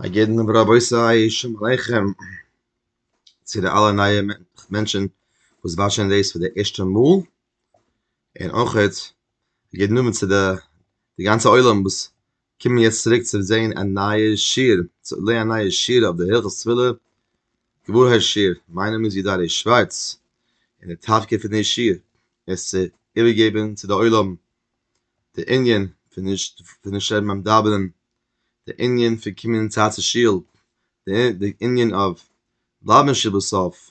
א יעדן און רבותי שום עליכם צו די אלע נייע מענטשן וואס וואטשען דאס פאר די ערשטע מאל און אויך א יעדן אבער צו די גאנצע עולם וואס קומען יעצט צוריק צו זען א נייע שיעור צו לערנען א נייע שיעור אויף די הלכות תפילה געוואוירהייט שיעור, מיין נאמען איז יודא ר' שווארץ און די תפקיד פון די שיעור איז צו איבערגעבן צו די עולם די ענין פון נישט פון נישט שרייבן ביים דאווענען, די ענין פון קומען אין צייט צו שול, די ענין אויף בלייבן שעה בסוף,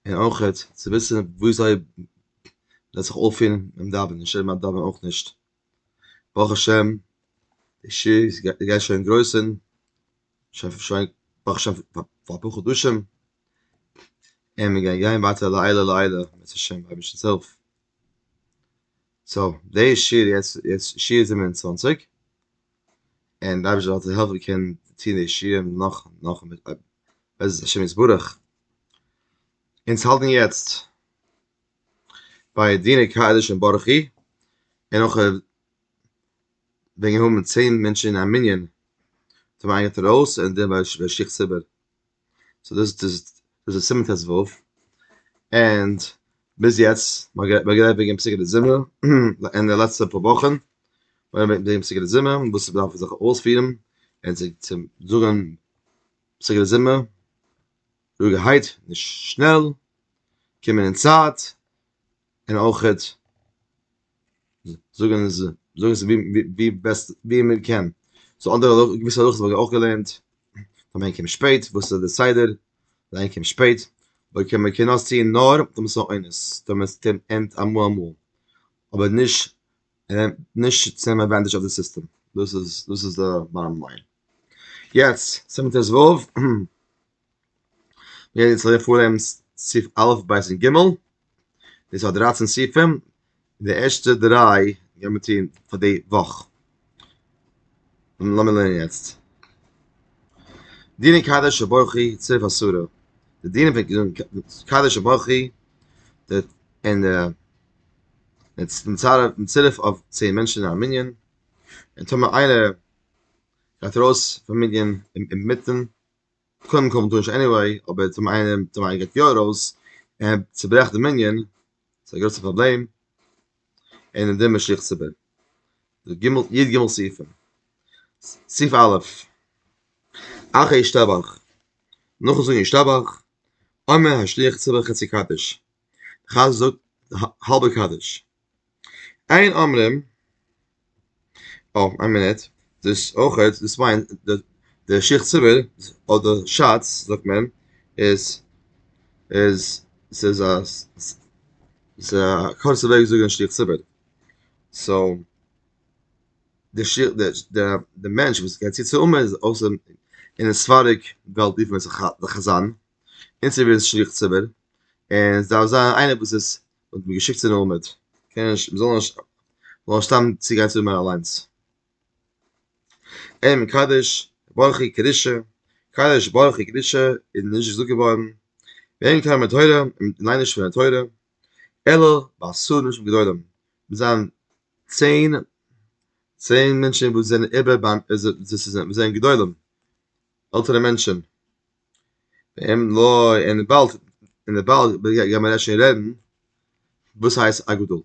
און אויכעט צו וויסן ווי אזוי מען זאל זיך אויפפירן ביים דאווענען, נישט שרייבן ביים דאווענען אויך נישט, ברוך השם די שעה איז גייט שוין אינדרויסן, שוין שוין ברוך השם פאר אפאר חדשים, און מיר גייען גיין ווייטער לעילא לעילא בעזהשי ת אויף אייבערשטנ'ס הילף. סאו דעי שיר יעצט יעצט שיר זיבן און צוואַנציק, און די אייבערשטער זאל זיך העלפן איך קען טון די שירים נאך נאך בעזרת השם יתברך, אונז האלטן יעצט ביי דיני קדש און ברכי, און נאך וועגן האבן צען מענטשן אין א מנין, האט מען איינגעטראויס און דערביי שכח ציבור. סאו דאס איז דאס איז סימן טז ו, ענד ביז יעצט מיר האבן גערעדט וועגן פסוקי די זמר אין די לעצטע פאר וואכן, וועגן פסוקי די זמר וואס מען דארף זיך אויספירן און צו צו זאגן פסוקי די זמר רואיגערהייט נישט שנעל, קומען אין צייט, און אויכעט. זאגן איז זאגן איז ווי ווי בעסט ווי מען קען סאו אנדערע האלאכע געוויסע האלאכעס וואלט איך אויך געלערנט אז מען קומט שפעט וואס איז די סדר זיין קומט שפעט אויב קען מען קען נאר ציען נאר אויב מען איז אן עונש אויב מען טענה'ט אמאל אמאל אבער נישט נישט צו נעמען עדוואנטעדזש אויף די סיסטעם דאס איז דאס איז די באטאם ליין יעצט סענטענס וו. מיר רעדן יעצט פון פרעמס סעיף א' ב' און ג', דאס האט דרײַצן סעיפים, די ערשטע דריי גיימיר טון פאר די וואך. לאמיר לערנען יעצט. דיני קדש וברכי צירוף עשרה, די דינים פון קדש וברכי און די צירוף אויף צען מענטשן אין א מנין, און טאמער איינער גייט ארויס פון מנין אינמיטן קודם כל מ'טאר נישט עניוועי, אבער צום איינעם צום איינעם גייט יא ארויס, און צוברעכט די מנין, ס'איז א גרויסע פראבלעם, און אין דעם משליך ציבור. די ג' י ג סעיפים. סעיף א', אחרי ישתבח, נאכן זאגן ישתבח, אומר השליח ציבור חצי קדיש. די חז ל זאגט האלבע קדיש. אין אמרים אה, איין מינוט, דאס אויך, דאס מיינט די שיך ציבור אדער שאץ זאגט מען איז איז ס'איז א ס'איז א קורצע וועג זאגן שיך ציבור. סאו די שיך די די מענטש וואס גייט צו צו אמן איז אויסער אין די ספרדיג וועלט רופן עס די חזן. אין ס'ווערט שליח ציבור און ס'דארף זיין איינער וואס איז האט מיר געשיקט צו די מעמד קען נישט מ'זאל נישט זאל נישט סתם צוגיין צו מיר אליינס. אין מקדש ברכי קדושה קדש ברכי קדושה איז נישט געזאגט געווארן ואין קיים בתורה און מ'ליינט נישט פון די תורה אלא בעשרים אנשים גדולים מוז זיין צען צען מענטשן וואס זענען איבער ביים וואס זענען גדולים עלטערע מענטשן. ווען לא אין באלד אין דער באלד גיימער מען שוין רעדן וואס הייסט א גדול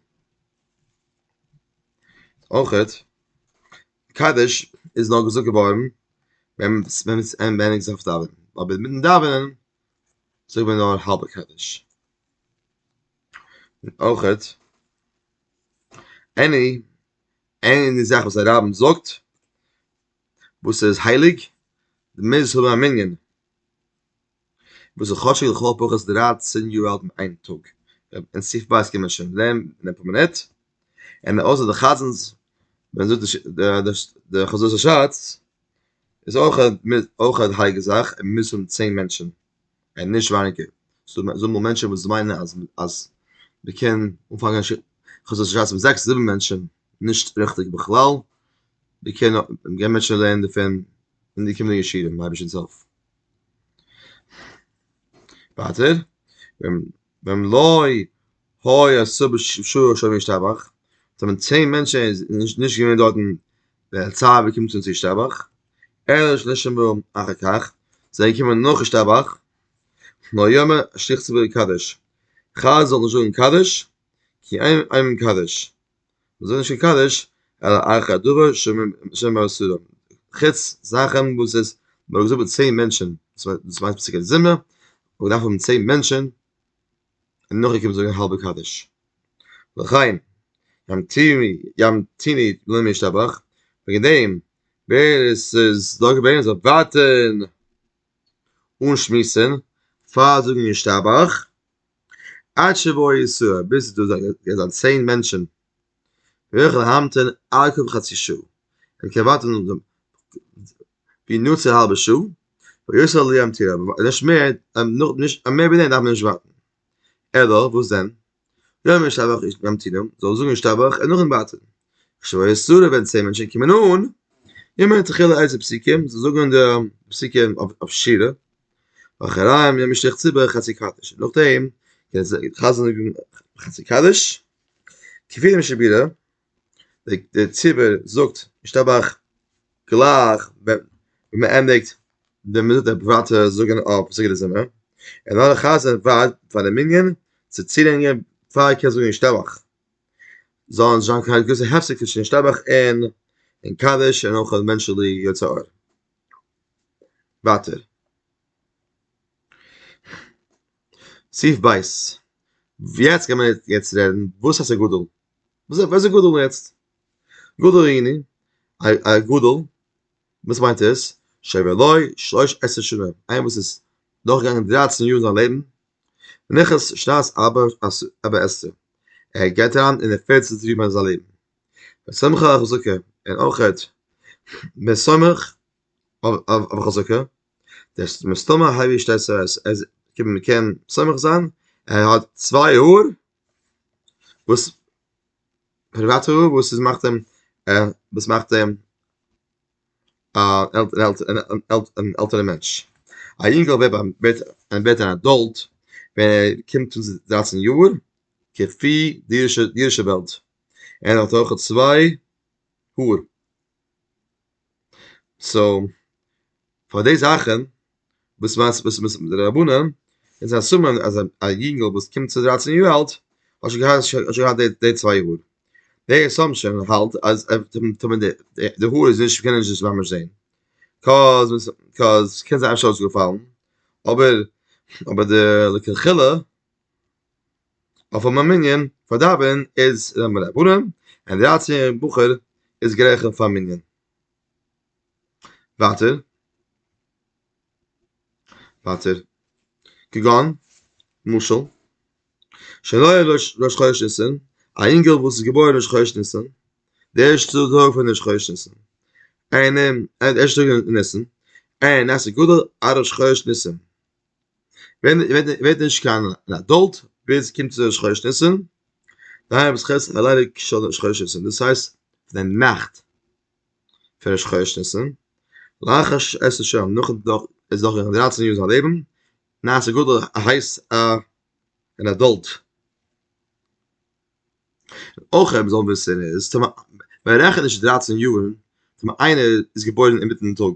אויכעט קדש איז נאר געזאגט געווארן ווען ווען עס ווען עס אויף דאווענען אבער מיטן דאווענען זאגט מען נאר האלבע קדש אויכעט עני עני זאך וואס א רב זאגט וואס איז הייליג, די מוז האבן א מנין וואס איז חשוב לכל הפחות דרײַצן יאר אלט אין איין טאג, אין סוף בית קען מען שוין לערנען פאר מינוט, און אויסער די חזנ'ס ווען מען זאגט די חזות השץ איז אויך אויך א הייליגע זאך און מוז האבן צען מענטשן. און נישט ווייניגער, ס'דא זאגמאל מענטשען וואס מיינען אז אז מ'קען אנפאנגען א חצות שבת מיט זעקס זיבן מענטשען, נישט ריכטיג בכלל, מ'קען געבן מענטשען לערנען דערפון אין די קומענדיגע שיעורים, אויב נישט אינזעלף. ווייטער, ווען לוי הוי א סב ש שומר ישתבח, ס'האט מען צען מענטשן איז נישט געווען דארטן ווען הצב ש קומט צו ישתבח, אלא שנשמרו אחר כך, זיי זענען געקומען נאך ישתבח, נאר יאמר שליח ציבור קדיש, חז ל זאגן קדיש, כי אין מקדש. וואס זענען נישט קדוש אלא ערכי הדבר שמא אסורים, חוץ זאכן וואס איז מ'האט געזאגט מיט צען מענטשן, דאס מיינט פסוקי זמרה, און מ'דארף האבן צען מענטשן, און נאכדעם קומט זאגן האלבע קדיש. לכן ימתיני ימתיני לא משתבח, וועגן דעם ווער עס איז דא געווען זאל ווארטן אן שמועסן פאר זאגן ישתבח, עד שיבואו ישראל, ביז ס'דא זיין צען מענטשען, וועל איך להמתין ארכה וחצי שעה, וועל איך קענען ווארטען נאך דעם בינוץ א האלבע שעה, ויוסר לי א מטילה, און נישט מער, מער ווי דעם דארף מען נישט ווארטען, אלא וואס דען, יאמר ישתבח איש ממתינים, זאל ער זאגן ישתבח און נאכדעם ווארטען, כשיבואו ישראל ווען צען מענטשען קומען אן, יאמר תחילה איזה פסוקים, זאל זאגן די פסוקים אויף שירה, אחריהם יעמי שליח ציבור חצי קדיש נאכדעם קען זיי חזר'ן זאגן חצי קדיש כפי דעם שבירה די ציבור זאגט משתבח גלייך ווען מ'ענדיגט ווען מ'זאגט די ווייטע זאגן אויף סדר די זמר און נאר די חזן ווארט פאר די מנין צו צולענגען פאר מ'קען זאגן משתבח זאל נישט זיין קיין גרויסע הפסק צווישן משתבח און קדיש און אויך מענטשעלע יצא אור. ווייטער. סעיף ב', יעצט קען מען יעצט רעדן וואס הייסט א גדול? וואס איז וואס איז גדול יעצט? גדול איני, א גדול, וואס מיינט עס? שעבר לו שלש עשרה שנים, איינער וואס איז דורכגעגאנגען דרייצן יאר אין זיין לעבן, נכס שנת ארבע עשרה, ער גייט אריין אין די פערצנטע יאר פון זיין לעבן, ושמחה און אויך ווען ער איז משמח אויף חזקה, דעס מסתמא הוי שטייט סא עס איז קען מען קען סומך זיין ער האט צוויי האר וואס פריוואטע האר וואס איז מאכט אים וואס מאכט אים אן עלטערע מענטש, א יונגעל ווערט א ווערט אן עדאלט ווען ער קומט צו דרייצן יאר כפי די אידישע וועלט, ער האט אויך צוויי האר. סאו פאר די זאכן וואס מיינסט וואס מ'איז מיט די רבנים איז א סימן אז א יונגל וואס קומט צו דרייצן יאר אלט האט שוין געהאט האט שוין געהאט די צוויי האר די עסאמפשען האלט אז די האר איז נישט קען ער נישט ממש זעהן קאז קאז ס'קען זיין אפשר האט עס געפאלן אבער אבער די לכתחילה אויף א מנין פאר דאווענען איז ר' מענדל א בונם און דרײַצן בחור איז גרייכן פאר מנין. ווייטער. ווייטער. כגון, משל, שנולד ראש חודש ניסן, א אינגעל וואס איז געבוירן ראש חודש ניסן, די ערשטע טאג פון ראש חודש ניסן, און אים, די ערשטע טאג אין ניסן, און עס איז גדול א ראש חודש ניסן, ווערט נישט קיין אדאלט ביז ער קומט צו שכונת ניסן, דהיינו וואס חז ל ליינען שכונת ניסן, דאס הייסט די נאכט פון ראש חודש ניסן, לאחר ש ס שם, נאכן נאך איז נאך געווען דרייצן יאר אין זיין לעבן, נעשה גדול הייסט א אן אדאלט. אויך וואס מען זאל וויסן איז מען רעכנט נישט דרייצן יאר ווען איינער איז געבוירן אינמיטן טאג.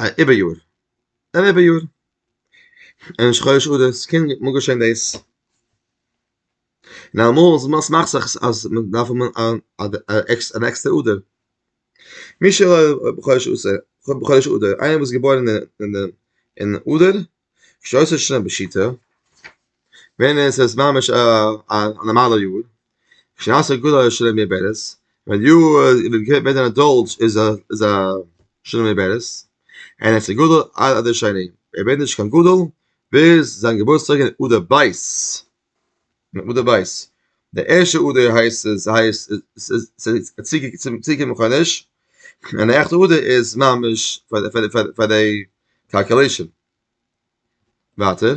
א איבער יאר אן איבער יאר און ראש חודש אדר ס'קען מאל געשען דאס און אמאל וואס מאכט זיך אז מען דארף האבן אן עקסטער אדר מי שלא בחודש אדר איינער וואס איז געבוירן אין אדר כשאויס איז שוין בשיטה ווען עס איז ממש א נארמאלע יאר כשאויס איז גודל איז שוין בערס ווען יו ווען דער אדאלט איז א איז א שוין בערס אין עס איז גודל עד השני ער ווערט נישט קיין גודל ביז זיין געבורטסטאג אין אדר ב' מיט מדה בית די ערשטע אדער הייסט עס הייסט צוגעקומען חדש און די עכטע אדער איז ממש פאר די קאלקולעישן ווייטער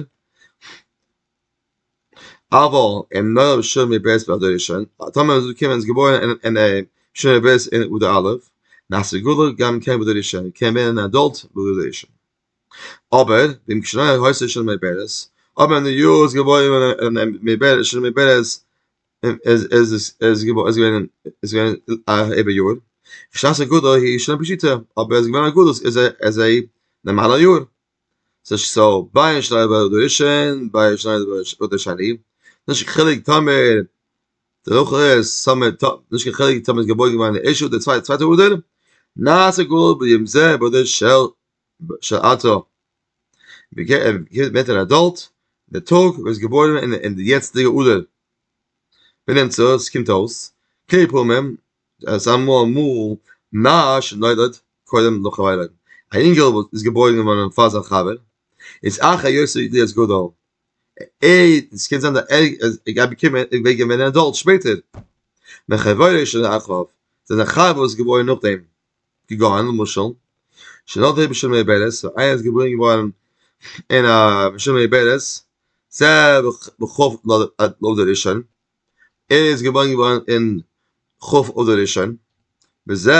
אבל אין נאר שומי בית ביי די ראשון טאמער איז געקומען איז געבוירן אין שומי בית אין אדר א' נאך סגולה גם כן ביי די ראשון קען ווערן אן אדאלט ביי די ראשון. אבער ואם כשנאי הויז של מי בערס, אבער ווען די יאר איז געבוירן אין מי בערס של מי בערס איז געווען א איבער יאר, שנת הגדול היא שנה פשוטה, אבער איז געווען א גלות איז א נארמאלע יאר, סאו ביי שנאי ביי אדר ראשון ביי שנאי ביי אדר שני, נישט קיין חילוק טאמער די וואך איז סאמע טאג, נישט קיין חילוק טאמער איז געבוירן געווארן אין ערשט אדער צווייטע אדר, נעשה גאולה ביום זה באדר של בשעתו. ווערט ער עדאלט די טאג וואס איז געבוירן אין די יעצטיגע אדר. בנמצא עס קומט אויס כמה פעמים אז אמאל מאל נער שנולד קודם לחבירו, א אינגעל וואס איז געבוירן געווארן פאר זיין חבר, איז אחרי יוסף להיות גדול, עס קען זיין אז ער איז געווען עדאלט שפעטער, מחבירו שנולד אחריו, זיין חבר איז געבוירן נאכדעם. געגאנגען למשל שנאל דער בשומר איבערעס סאו איינער איז געבוירן געווארן אין א בשומר איבערעס ז ב ח אדר ראשון ער איז געבוירן געווארן אין כ' אדר ראשון בזה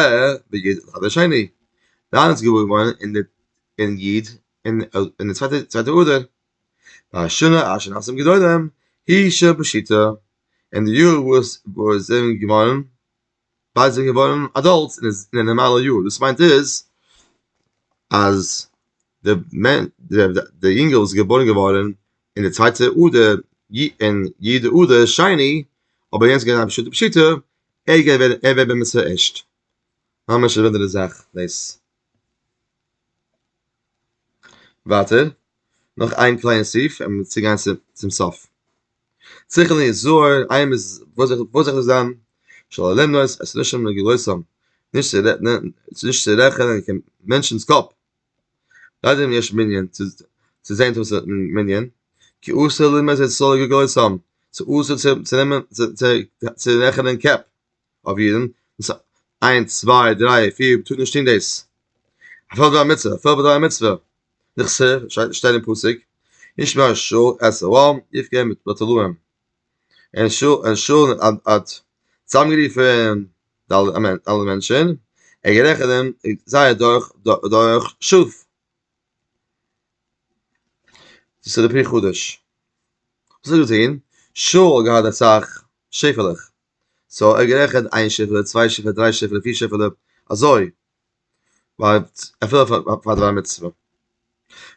ב י ד אדר שני דיין איז געבוירן געווארן אין די אין י' אין אין די צווייטע צווייטע אדר והשנה אש נאסם גדולים היא ש בשיטה אין די יאר וואס וואס זענען געווארן ביידע זענען געווארן אדאלטס און איז אין א נארמאלע יאר דאס מיינט איז אז די מענ די די יונגל וואס איז געבוירן געווארן אין די צווייטע אדר י אין י ד אדר שני אבער יענץ געווען א פשוטע פשיטא ער איז געווען ער ווערט בר מצוה ערשט ממש א אנדערע זאך דאס. ווייטער נאך איין קליינע סעיף און מיר צוגיין צום סוף. צריך לי זוהר איי מ'איז וואס זאל איך וואס זאל איך זיין של אלעם נאר עס נישט שמים לגרויסם נישט צו רעדן נישט צו רעכענען קיין מענטשנ'ס קאפ ליידער אין יש מנין צו זעהן וואס איז אין מנין כי אסור לרמוז את סלע גרויסם ס'איז אסור צו צו נעמען צו רעכענען קעפ. אויף אידן, דאס איז איינס צוויי דריי פיר מ'טאר נישט טון דאס, אפילו דורך א מצוה, אפילו דורך א מצוה, נכסר שטייט אין פסוק, ישמע שאול את ארם יפגע בתולעים, און שאול האט צוזאמגערופן אלע מענטשן, ער האט גערעכענט זייער דורך שופ. דאס איז די פרי חדש, וואס האט ער געטון? שאול האט געהאט אסאך שעפעלעך. סאו ער האט גערעכנט איין שיפעלע, צוויי שיפעלע, דריי שיפעלע, פיר שיפעלע, אזוי. אפילו פאר דבר מצוה.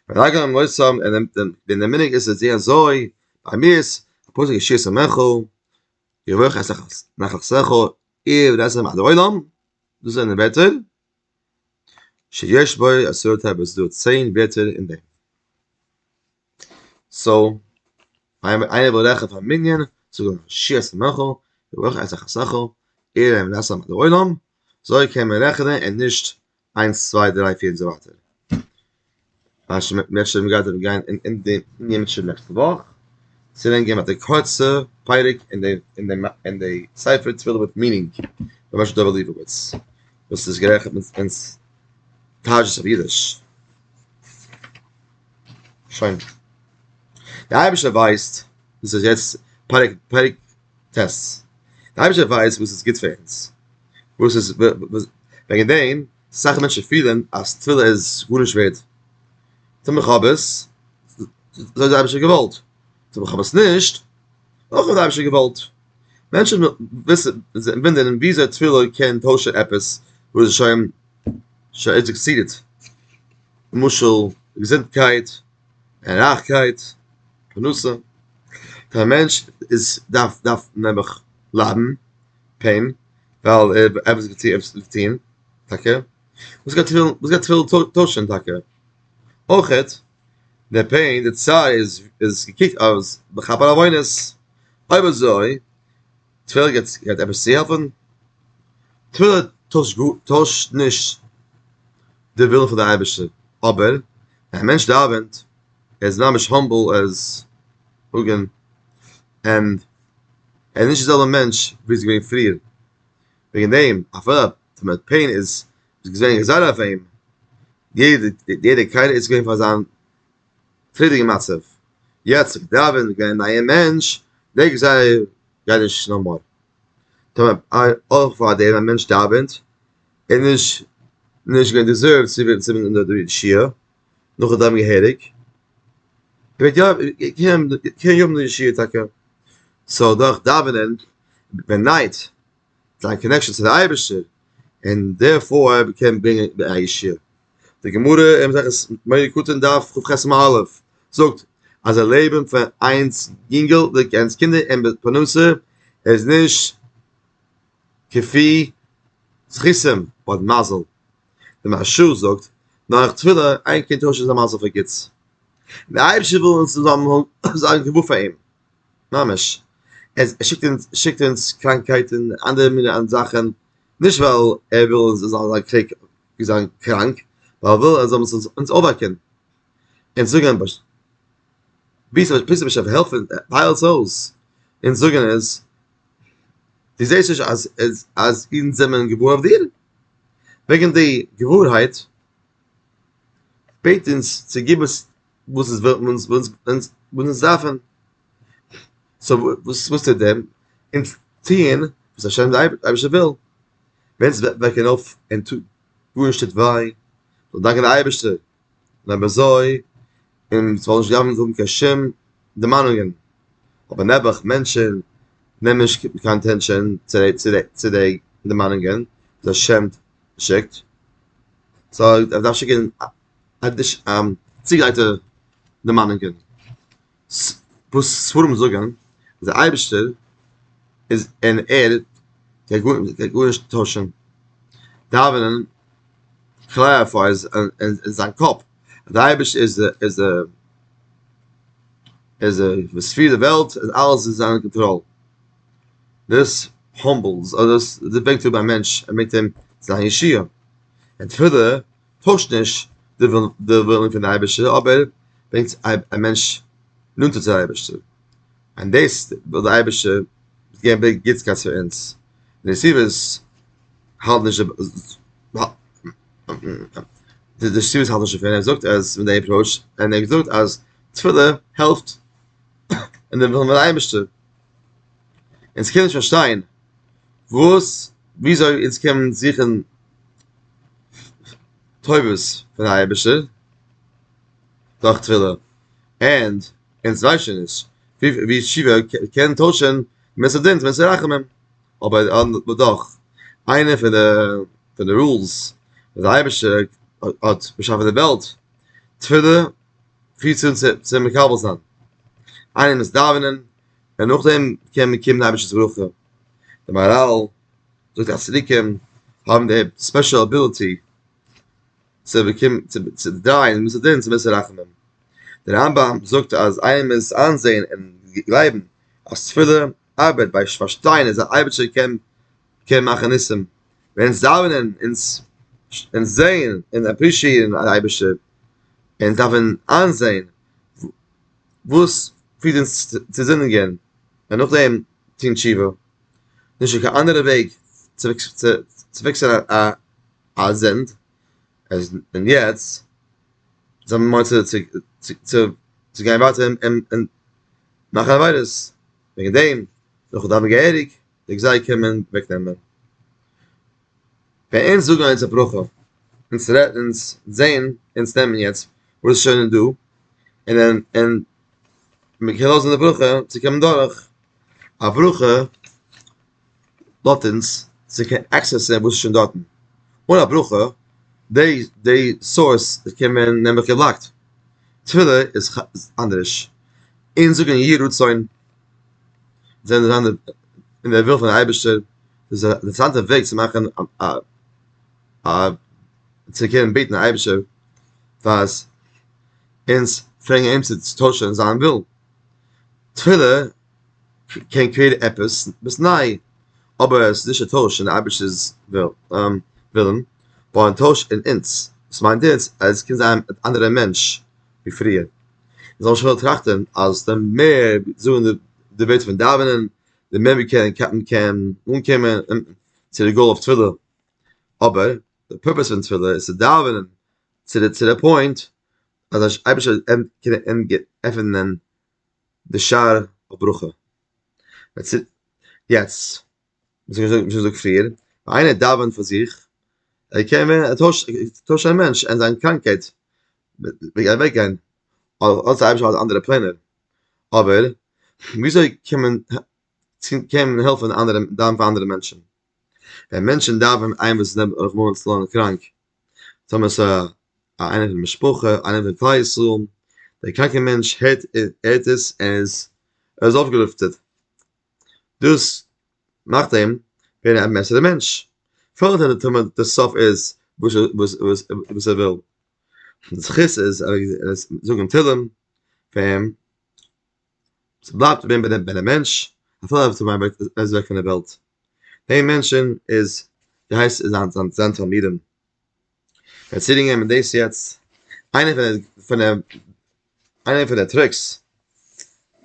רגע און מוסר ער נעמט דעם ווען דער מנהג איז אזוי אזוי, ביי מיר איז פסק ישיר שמך, יברך את נחלת ארצך, עיר וארץ אשר עמדה עולם, דאס זענען ווערטער, שיש בו עשרת הברז, דא צען ווערטער אין דעם. סאו, איינער וויל רעכענען פאר מנין, זאג אים שי' עשה מלאכה, וברוך עשה חסכו, עיר להם לעשם על העולם, זוי קען מען רעכענען און נישט איינס צוויי דריי פיר און אזוי ווייטער. אפשר מען גייט ארום גיין אין די ענינים שוין נעקסטע וואך, צו לענגער וועט די קורצע פרק אין די אין די אין די ספר תפילה מיט מנין פון משה דוב ליבוביץ, וואס איז גערעכנט אין תרג'ס אויף אידיש. שוין. די אייבערשטער ווייסט וואס איז יעצט פרק פרק טז. די אייבערשטער ווייסט וואס איז גוט פאר אונז. וואס איז וועגן דעם אסאך מענטשן פילן אז תפילה איז גארנישט ווערד. טו מיך האב עס, אזוי האט די אייבערשטער געוואלט. טו מיך האב עס נישט, אויך האט די אייבערשטער געוואלט. מענטשן וויסן זיך ווינדערן וויאזוי תפילה קען טוישן עפעס וואס איז שוין ס'האט זיך געסעטעלט. למשל, געזונטקייט, און רייכקייט, פרנסה, פאר א מענטש איז דארף דארף נעבעך ליידן, פעין, ווייל ער האט עפעס געטוהן עפעס וועט טוהן, טאקע, וואס גייט וועלן וואס גייט וועלן טוישען טאקע? אויכעט, דער פעין, דער צער איז איז געקוקט אז בכפר עוונות, אויב אזוי תפילה גייט גייט עפעס צו העלפן? תפילה טוישט גא טוישט נישט די ווילן פון די אייבערשטער, אבער ווען א מענטש דאווענט, ער איז ממש האמבל, ער איז און ער איז נישט די זעלבע מענטש ווי ער איז געווען פריער, וועגן דעם אפילו די מ ד פעין איז געווען געזאלט אויף אים, יעדע יעדע קייטע איז געווען פאר זיין פרידיגע מצב, יעצט איך דאווען און גיין נייע מענטש, דעק איך זייער גיי נישט נאו מאר, טאמער אויך פאר דעם א מענטש דאווענט און נישט נישט געווען דיזערוו צו ווערן צו ווען די ישיבה, נאך דאווען געהעריג, וועט יא קען יא האבן די ישיבה טאקע, סאו דורך דאווענען בעניט זיין קאנעקשאן צו די אייבערשטער, און דערפאר ער קען ברענגען די ישועה. די גמרא אין מסכת מויד קטן דף כב ח סימן א' זאגט אז א לעבן פאר איינס יונגל די קענסט קינדער אין די פרנסה איז נישט כפי זכותם און מזל די מהרשא זאגט נאך תפילה איין קינד טוישט זיין מזל פאר גוטס די אייבערשטער וויל אונז זאלן האבן זיין געוואר פאר אים. ממש. עס שיקט אונז שיקט אונז קראנקהייט און אנדערע מינע זאכן, נישט ווייל ער וויל אונז זאלן זיין קריג זיין קראנק, ווייל ער וויל אז אונז זאלן אונז אויפוועקן, אונז זאגן ב ש ביסט א ביסט א משוגע העלף אונז הייל עס אויס, אונז זאגן איז דו זעסט נישט אז אז אז אונז זעמען געוואר אויף דיר? וועגן די געווארהייט בעט אונז צו גיב אונז וואס איז ווען אונז ווען אונז ווען אונז דארפן סאו וואס וואס טוט דעם אונז טוען וואס השם די אייבישע וויל ווען אונז וועקן אויף און טוט גארנישט טוט וויי זאל דאנקען די אייבישטע און אויב אזוי און ס'זאל נישט דארפן האבן קיין שום דערמאנונגען אבער נעבעך מענטשען נעמען נישט קיין אטענשאן צו די צו די צו די דערמאנונגען וואס השם שיקט סאו ער דארף שיקן עדש ם צוגרייטע דערמאנונגען וואס ספרים זאגן אז דער אייבערשטער איז און ער קען גארנישט טוישן דאווענען קלעריפיי אין זיין קאפ אז דער אייבערשטער איז איז איז ער וואס פירט די וועלט און אלעס איז אין זיין קאנטראל דאס האמבלס אדער דאס ברענגט אראפ א מענטש און מעגט אים זיין ישועה און תפילה טוישט נישט די ווילן פון די אייבערשטער אבער ברענגט א מענטש נאנטער צו די אייבערשטער, און דאס וויל די אייבערשטער געבן מער גוטסקייט פאר אונז, נסיבות האלט נישט די נסיבות האלט נישט דערפון, ער זאגט אז מיט די עפראוטש, ער האט געזאגט אז תפילה העלפט אין די ווילן פון די אייבערשטער, אונז קען נישט פארשטיין וואס וויאזוי אונז קען זוכן טובות פון אייבערשטער דורך תפילה און אונז ווייסען נישט ווי שיבה קען טוישען מען סדינט ווען סרחמים אבער דאך איינער פון די פון די רולס די אייבערשטער האט באשאפען די וועלט תפילה פירט צו אונז צו מקבל זיין איינער מוז דאווענען און נאכדעם קען מען קומען די אייבערשטערס ברכה די מאראל זאגט אז צדיקים האבן די ספעשל אביליטי צו באקומען צו צו דרייען מיט דעם צו בעסער רחמים דער רמב ם זאגט אז איינער מוז איינזעהן און גלייבן אז תפילה ארבעט ביי פארשטיין אז די אייבערשטער קען קען מאכן ניסים ווען אונז דאווענען אונז אונז זעהן און אפרישיעירן די אייבערשטער און דארפן איינזעהן וואס פירט אונז צו זינדיגען און נאכדעם טון תשובה. נישט דא קיין אנדערע וועג צו פיקסען א זינד, עס און יעצט זיי האבן מורא צו צו צו גיין ווייטער און מאכן עבירות, וועגן דעם זאל איך דארפן געהעריג די גזע קומען אוועק נעמען. ווען אונז זאגן אונזער ברכה, אונז רעדן אונז זעהן אונז נעמען יעצט וואס שוין איז דא, און און און מ'קען לאזן די ברכה צו קומען דורך. א ברכה לאט אונז צו קענען עקסעסען וואס איז שוין דארטן, אן א ברכה די די סארס קען מען נעמען געבלאקט, תפילה איז אנדערש, אונז זאגן יהי רצון זענען די זיינע אין די וויל פון די אייבערשטער, דאס איז א אינטערעסאנטע וועג צו מאכן א א צו קענען בעטן די אייבערשטער פאר אונז פרעגן אים צו טוישן זיין ווילן. תפילה קען קריעט עפעס וואס ניי, אבער עס איז נישט א טויש אין די אייבערשטער'ס ווילן, נאר א טויש אין אונז, וואס מיינט אונז אז עס קען זיין אן אנדערער מענטש ווי פריער, מיר זאלן שוין נאר טראכטען אז די מער מיר זאגן די ווערטער פון דאווענען, די מער מיר קענען קען אנקומען צו די גאול אויף תפילה, אבער די פורפעס פון תפילה איז צו דאווענען צו די פוינט אז אייבערשטער קען עפענען די שער אויף ברכה. יעצט, ווי שוין געזאגט פריער, ווען איינער דאווענט פאר זיך, ער קען ווערן א טוישענע מענטש, און זיין קראנקייט וועט אוועק גיין, האט דער אייבערשטער אנדערע פלענער, אבער ווי אזוי קען מען קען מען העלפן אנדערע דאווענען פאר אנדערע מענטשן? ווען מענטשן דאווענען איינער וואס איז רחמנא לצלן קראנק, טאמער ס'איז א איינער פון משפחה, איינער פון כלל ישראל, דער קראנקער מענטש הערט הערט עס און איז ער איז אויפגעלופטערט. דאס מאכט אים ווערן א בעסערער מענטש. פארט וועט ער טון וואס די סוף איז וואס וואס וואס וואס ער וויל. די זכות איז זאגן תהלים פאר אים. ס'בלייבט ווען ביי דעם מענטש אפילו ער וועט ער איז אוועק פון דער וועלט. דעי מענטשען איז ווי הייסט איז זיין זיין זיין תלמידים ער האט צי געגעבען מיט דעיס יעצט איינע פון די פון די איינע פון די טריקס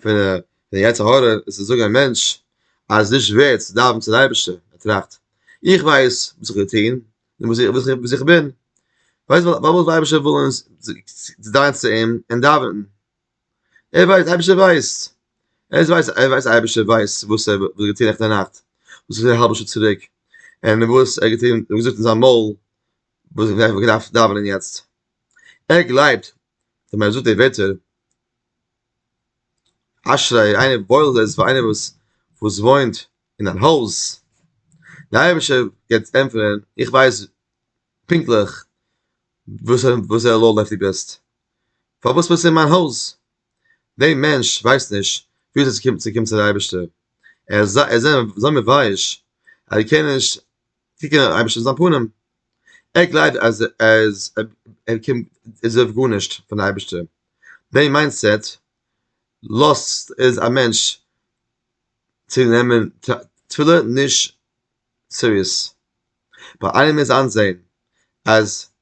פון די פון די יצר הרע איז צי זאגען א מענטש אז עס נישט ווערט צי דאווענען צום אייבישטער ער טראכט איך ווייס וואס איך וועל טוהן און וואס איך וואס איך בין פארוואס זאל די אייבישטער ווילען זיך דרייען צו אים און דאווענען. ער ווייסט, אייבערשטער ווייסט, ער ווייסט, ער ווייסט אייבערשטער ווייסט וואס ער האט געטון נעכטן נאכט, וואס איז געווען א האלבע שעה צוריק, און וואס ער האט געטון, ער האט געזאגט אין זיין מויל, וואס ער וואלט געדארפט דאווענען יעצט, ער גלייבט אז ווען ער זאגט די ווערטער, אשרי איינער, וואויל איז פאר איינער וואס וואס וואוינט אין אן הויז, דער אייבערשטער גייט ענטפערן, איך ווייס פונקטליך וואס וואס עלול אויף דו ביסט. פארוואס מוז עס אין מיין הויז? דער מענטש ווייסט נישט ווי אזוי צו קומען צו קומען צו דער אייבערשטער, ער איז ער איז אזוי מבייש אז ער קען נישט קוקן דעם אייבערשטער אין זיין פנים, ער גלייבט אז ער איז ער קומט ער דארף גארנישט פון דער אייבערשטער, דער מיינדסעט לאזט איז א מענטש צו נעמען תפילה נישט סיריעס, ביי איינעם איז איינזעהן אז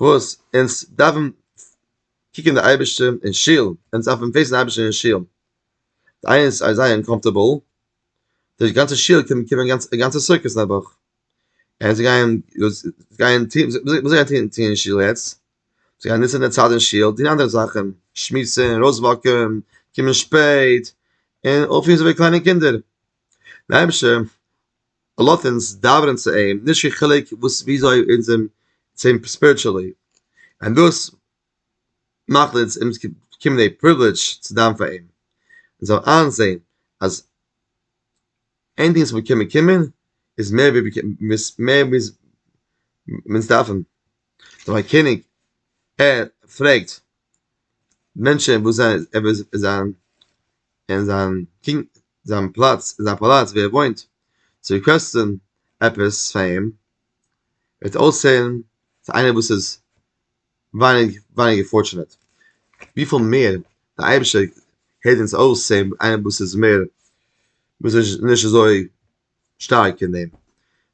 וואס אונז דארפן קוקן די אייבערשטער אין שול, אונז דארפן פעיסן די אייבערשטער אין שול, זיי זייער אנקאמפארטעבל, די גאנצע שול קען קומען א גאנצע סוכות אין א וואך, און זיי גייען גייען טון וואס זיי גייען טון אין שול יעצט? זיי גייען נוצן די צייט אין שול טון אנדערע זאכן, שמועסן, ארויסוואקן, קומען שפעט, און אויפפירן אזויווי קליינע קינדער, די אייבערשטער לאט אונז דאווענען צו אים, נישט קיין חילוק וואס וויאזוי אונז זעמיר צו אים ספיריטשעלי, און דאס מאכט אונז אונז באקומען די פריווילעדזש צו דאווען פאר אים, אונז זאלן איינזען אז עניטינג וואס מיר קענען באקומען איז מער ווי מער ווי אונז דארפן, נאר א קעניג ער פרעגט מענטשען וואס זיי ער וויל זיין. אין זיין פונקט זיין פלאץ אין זיין פאלאץ ווי ער וואוינט צו קאסטן עפעס פאר אים וועט אויסזעהן צו איינער וואס איז ווייניג ווייניגער פארטשענעט וויפיל מער די אייבישטער העלט אונז אויס צו איינער וואס איז מער וואס איז נישט אזוי שטארק אין דעם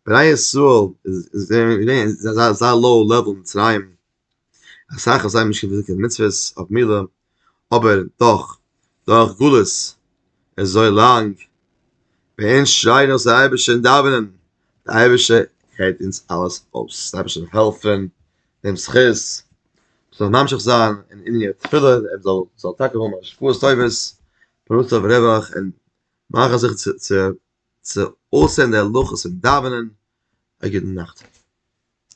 בני ישראל איז געווען זייער זייער לאו לעוועל אין מצרים אסאך האבן זיי נישט געוויסט קיין מצוות אויף מילה, אבער דאך, דורך גלות אזוי לאנג, מענטש שרייט נאך צו אייבערשטער אין דאווענען, די אייבערשטער הערט אונז אלעס אויס, די אייבערשטער זאל העלפן, דעם זכות, מ'זאל ממשיך זיין אין עניני תפילה, ער זאל זאל טאקע האבן השפעות טובות, פרנסה אויף רווח, און מאכן זיך צו צו צו אויסהערן די הלכות אין דאווענען, א גוטן נאכט.